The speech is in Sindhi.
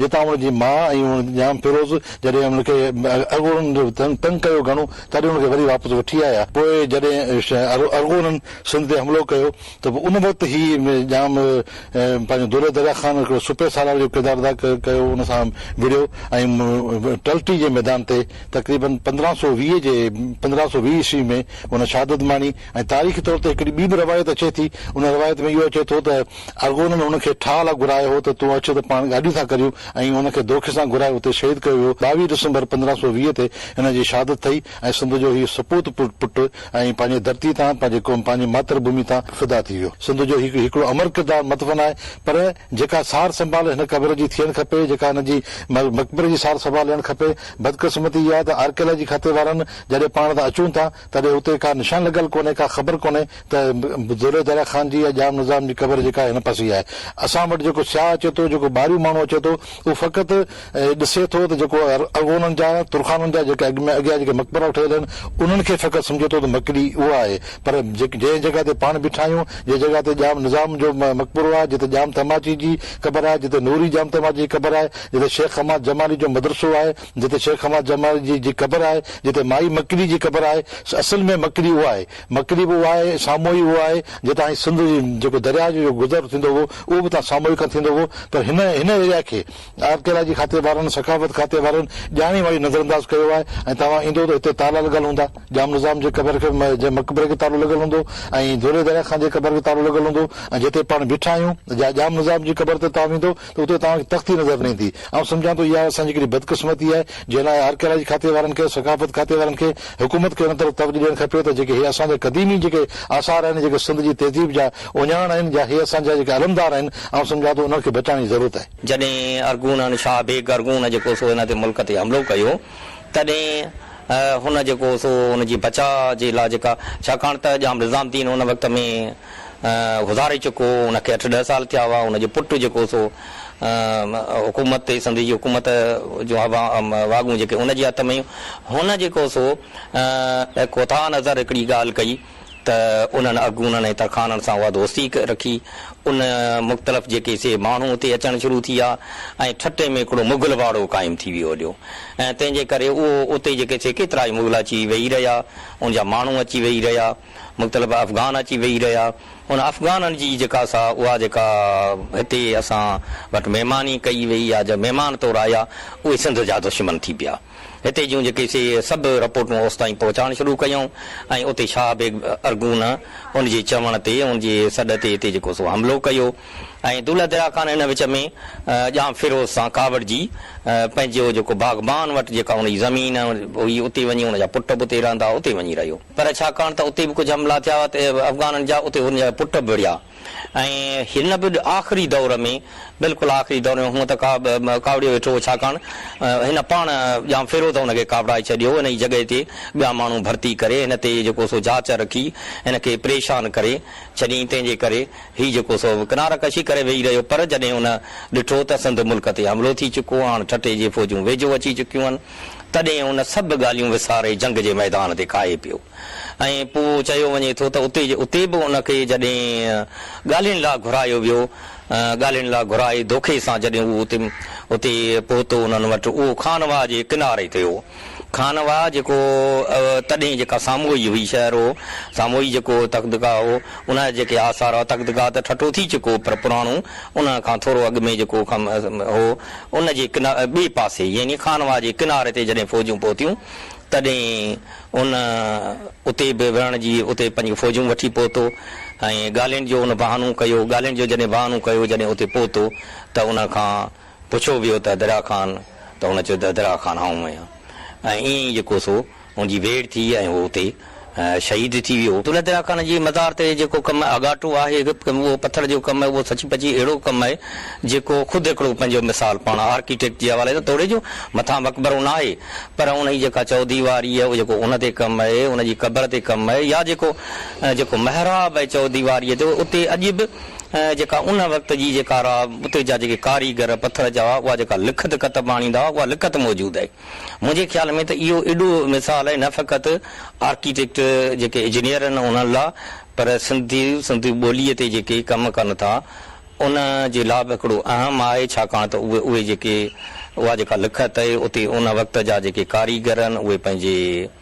جتان هن جي ماء ۽ هن ڄام فيروز جڏهن هن کي ارغونن تنگ ڪيو گهڻو تڏهن هن کي وري واپس وٺي آيا. پوء جڏهن ارغونن سنڌ تي حملو ڪيو ته به ان وقت هي ڄام پنهنجو دولهه دريا خان هڪڙو سپهه سالار جو ڪردار ادا ڪيو ان سان وڙهيو ۽ ٽلٽي جي ميدان تي تقريبن پندرهن سؤ ويهه جي پندرهن سؤ ويهه عيسوي ۾ هن شهادت ماڻي. ۽ تاريخي طور تي هڪڙي ٻي به روايت اچي ٿي، ان روايت ۾ اهو اچي ٿو ته ارغونن هن کي ٺاهه لاء گهرايو هو ته تون اچ ته پاڻ گاڏي ٿا ڪريون ۽ هن کي دوکي سان گهرائي اتي شهيد ڪيو ويو، ٻاويهه ڊسمبر پندرهن سؤ ويهه تي هن جي شهادت ٿئي ۽ سنڌ جو هي سپوت پٽ ۽ پنهنجي ڌرتي تان پنهنجي قوم پنهنجي ماتر ڀومي تان فدا ٿي ويو، سنڌ جو هي هڪڙو امر ڪردار مدفن آهي پر جيڪا سار سنڀال هن قبر جي ٿيڻ کپي جيڪا هن جي مقبري جي سار سنڀال لهڻ کپي، بدقسمتي اها ته آرڪيالاجي کاتي وارن جڏهن پاڻ تان اچون ٿا تڏهن اتي ڪا نشان لڳل ڪونهي، ڪا خبر ڪونهي ته دولي دره خان جي يا ڄام نظام جي قبر جيڪا هن پاسي آهي. اسان وٽ جيڪو سياح اچي ٿو، جيڪو ٻاهريون ماڻهو اچي ٿو، اهو فقط ڏسي ٿو ته جيڪو ارغونن جا، ترخانن جا جيڪي اڳ ۾ اڳيان جيڪي مقبرا ٺهيل آهن، انهن کي فقط سمجهي ٿو ته مڪلي اها آهي. پر جنهن جڳهه تي پاڻ بيٺا آهيون، جنهن جڳهه تي ڄام نظام جو مقبرو آهي، جتي ڄام تماچي جي قبر آهي، جتي نوري ڄام تماچي جي قبر آهي، جتي شيخ حماد جمالي جو مدرسو آهي، جتي شيخ حماد جمالي جي جي قبر آهي، جتي مائي مڪڙي جي قبر آهي، اصل ۾ مڪڙي اها آهي، مڪڙي به اها آهي، ساموئي اهو آهي، جتان هي سنڌ جي جيڪو درياهه جو جيڪو گذر ٿيندو هو، اهو به اتان ساموئي کان ٿيندو هو، پر هن هن ايريا کي آرڪيالاجي کاتي وارن، ثقافت کاتي وارن ڄاڻي واڻي نظرانداز ڪيو آهي ۽ توهان ايندو ته هتي تالا لڳل هوندا، ڄام نظام جي قبر کي جي مقبري کي تالو لڳل هوندو ۽ ڌولي درياهه خان جي قبر کي تالو لڳل هوندو ۽ جتي پاڻ بيٺا آهيون، جا ڄام نظام جي قبر تي توهان ويندو. ته اتي توهان کي تختي نظر نه ايندي. آئون سمجهان ٿو اها اسان جي ڪيڏي بدقسمتي آهي، جنهن لاء آرڪيالاجي کاتي وارن کي ۽ ثقافت کاتي وارن کي حڪومت کي ان طرف توجهه ڏيڻ کپي ته جيڪي هي اسان جا قديمي جيڪي آثار آهن، جيڪي سنڌ جي تهذيب جا اهڃاڻ آهن، جا هي اسان جا جيڪي علمدار آهن، آئون سمجهان ٿو انهن کي بچائڻ جي ضرورت آهي. جڏهن ارغونن، شاهه بيگ ارغون جيڪو سو هن تي ملڪ تي حملو ڪيو، تڏهن هن جيڪو سو ان جي بچاء جي لاء جيڪا ڇاڪاڻ ته ڄام نظام الدين ان وقت ۾ گذاري چڪو هو، ان کي اٺ ڏهه سال ٿيا هئا، ان جو پٽ جيڪو سو حڪومت تي سنڌ جي حڪومت جون واڳون جيڪي ان جي هٿ ۾ هيون، هن جيڪو سو. ڪوتاهه نظر هڪڙي ڳالهه ڪئي ته انهن اڳوڻن ۽ ترخانن سان اها دوستي رکي، ان مختلف جيڪي سي ماڻهو اتي اچڻ شروع ٿي ويا ۽ ٺٽي ۾ هڪڙو مغل واڙو قائم ٿي ويو هليو ۽ تنهن جي ڪري اهو اتي جيڪي سي ڪيترائي مغل اچي ويهي رهيا، ان جا ماڻهو اچي ويهي رهيا. مختلف افغان اچي ويهي رهيا. ان افغانن جي جيڪا سا اها جيڪا هتي اسان وٽ مهماني ڪئي ويئي يا جا مهمان طور آيا اهي سنڌ جا دشمن ٿي پيا. هتي جون جيڪي سي سڀ رپورٽون اوستائين پهچائڻ شروع ڪيائون ۽ اتي شاهه بيگ ارغون ان جي چوڻ تي ان جي سڏ تي هتي جيڪو سو حملو ڪيو ۽ دولهه دريا خان ان وچ ۾ ڄام فيروز سان ڪاوڙجي پنهنجو جيڪو باغبان وٽ جيڪا ان جي زمين هئي اتي وڃي ان جا پٽ به اتي رهندا اتي وڃي رهيو. پر ڇاڪاڻ ته اتي به ڪجهه حملا ٿيا هئا ته افغانن جا اتي هن جا پٽ به وڙهيا ۽ هن به آخري دور ۾ بلڪل آخري دور ۾ هونء ته ڪاوڙيو ويٺو هو ڇاڪاڻ هن پاڻ ڄام فيروز هن کي ڪاوڙائي ڇڏيو هو ان جي جڳهه تي ٻيا ماڻهو ڀرتي ڪري هن تي جيڪو سو جاچ رکي هن کي پريشان ڪري ڇڏيائين تنهن جي ڪري هي جيڪو سو ڪناره ڪشي ڪري ويهي رهيو پر جڏهن هن ڏٺو ته سنڌ ملڪ تي حملو ٿي چڪو هاڻ ٺٽي جي فوجون ويجهو اچي چڪيون هن تڏهن هن سڀ ڳالهيون وساري جنگ جي ميدان تي ڪاهي پيو ۽ پوء چيو وڃي ٿو ته اتي جي اتي به ان کي جڏهن ڳالهين لا گهرايو ويو ڳالهين لا گهرائي دوکي سان جڏهن هو اتي اتي پهتو انهن وٽ اهو خان واهه جي ڪناري تي هو خان واهه جيڪو تڏهن جيڪا ساموئي هئي شهر هو ساموئي جيڪو تختگاهه هو ان جا جيڪي آثار هئا تختگاهه ته ٺٽو ٿي چڪو پر پراڻو ان کان ٿورو اڳ ۾ جيڪو هو ان جي ٻئي پاسي يعني خانواهه جي ڪناري تي جڏهن فوجون پهتيون تڏهن ان اتي به وڙهڻ جي اتي پنهنجون فوجون وٺي پهتو ۽ ڳالهين جو ان بهانو ڪيو ڳالهين جو جڏهن بهانو ڪيو جڏهن اتي پهتو ته ان کان پڇيو ويو ته دريا خان ته هن چيو ته دريا خان آئون آهيان ۽ ائين ئي جيڪو سو هن جي ويڙهه ٿي ۽ هو اتي شهيد ٿي ويو. دولت الله خان جي مزار تي جيڪو ڪم آڳاٽو آهي اهو پٿر جو ڪم اهو سچي پچي اهڙو ڪم آهي جيڪو خود هڪڙو پنهنجو مثال پاڻ آرڪيٽيڪٽ جي حوالي سان توڙي جو مٿان مقبرو ناهي پر ان جي جيڪا چوديواري اهو جيڪو ان تي ڪم اهي ان جي قبر تي ڪم اهي يا جيڪو جيڪو محراب اهي چوديواري تي اتي اڄ به جيڪا ان وقت جي جيڪا اتي جا جيڪي ڪاريگر پٿر جا اها جيڪا لکت ڪتب آڻيندا اها لکت موجود اهي. منهنجي خيال ۾ ته اهو اڏو مثال آهي نه فقط آرڪيٽيڪٽ جيڪي اجنيئر آهن انهن لا پر سنڌي سنڌي ٻولي تي جيڪي ڪم ڪن ٿا ان جي لا به هڪڙو اهم آهي ڇاڪاڻ ته اهي اهي جيڪي اها جيڪا لکت آهي اتي ان وقت جا جيڪي ڪاريگر آهن اهي پنهنجي